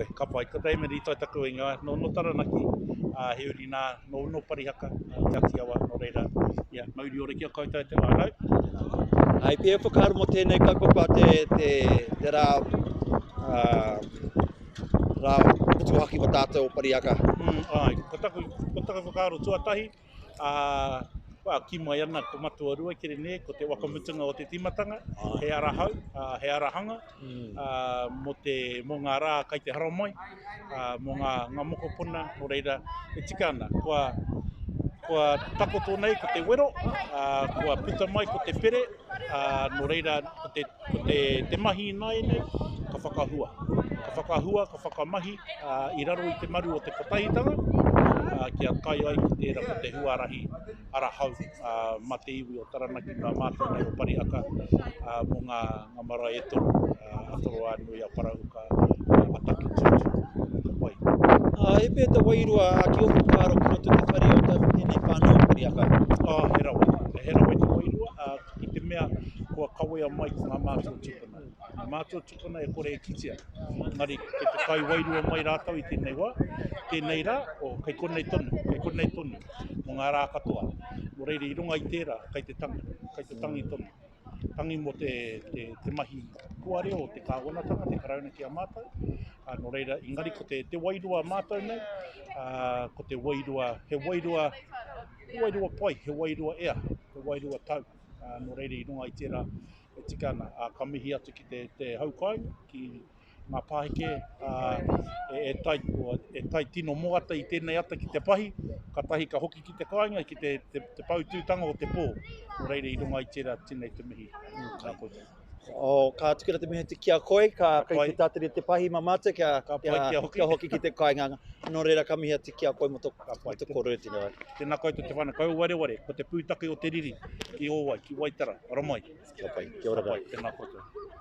Koe, ka pai. Ko Damon i tae taku ingoa, no no Taranaki, a he uri na, no no Parihaka, Te Ati Awa, no reira, ia. Mauri ora ki a koutou te whanau. Hai pia e whakaaro mo tenei kaupapa a te te ra ra motuhaki mo tatou o Parihaka. Ai, ko taku ko taku whakaaro tuatahi, ā, kī mai ana ko Matua Rua kere nē, ko te waka mutunga o te tīmatanga, he ara hau, he ara hanga, mō te, mō ngā rā kai te haramai, mō ngā mokopuna, nō reira, e tika ana, kua, kua takoto nei ko te wero, kua puta mai ko te pere, nō reira, ko te. Ko te, te mahi ināianei, ka whakahua. Ka whakahua, ka whakamahi i raro i te maru o te kotahitanga, kia kai ai ki tērā ko te huarahi ara hau mā te iwi o Taranaki, mā mātou nei o Parihaka, mō ngā marae e toru, a Toroānui, a Parahuka, a Takitūtū, ka pai. He pēhea te wairua ki ōku whakaaro ki roto i te whare o tēnei whānau o Parihaka? He rawe, he rawe te wairua. I te mea, kua kawea mai ko ngā mātua tūpuna. Ngā mātua tūpuna e kore e kitea. Engari, kei te whai wairua mai rātou i tēnei wā, tēnei rā, o, kei konei tonu, kei konei tonu, mō ngā rā katoa. Nō reira, i runga i tērā, kei te tangi, kei te tangi tonu. Tangi mō te, te, te mahi kua reo o te Kāwanatanga, te Karauna ki a mātou. Ā, nō reira, engari ko te, te wairua mātou nei, ā, ko te wairua, he wairua, He wairua pai, he wairua ea, he wairua tau, ā, nō reira i runga i tērā e tika ana, ā, ka mihi atu ki te, te hau kāinga, ki ngā pāheke, ā, e, e tai, o, e tai tino moata i tēnei ata ki te pahi, katahi ka hoki ki te kāinga, ki te, te, te poutūtanga o te pō, nō reira i runga i tērā tēnei te mihi, ā, nā koutou. Oh, ka tukira te mihi ki a koe, ka kai te tātari te pahi ma mātou kia, ka kia, kia, hoki. kia hoki ki te kainganga. Nō reira ka mihi atu ki a koe mo tō kōrero e tino ai. Tēnā koutou te whānau, kouou wareware, ko te pūtake o te riri ki ō wai, ki Waitara, ara mai. Kia pai, kia ora koutou. Tēnā koutou.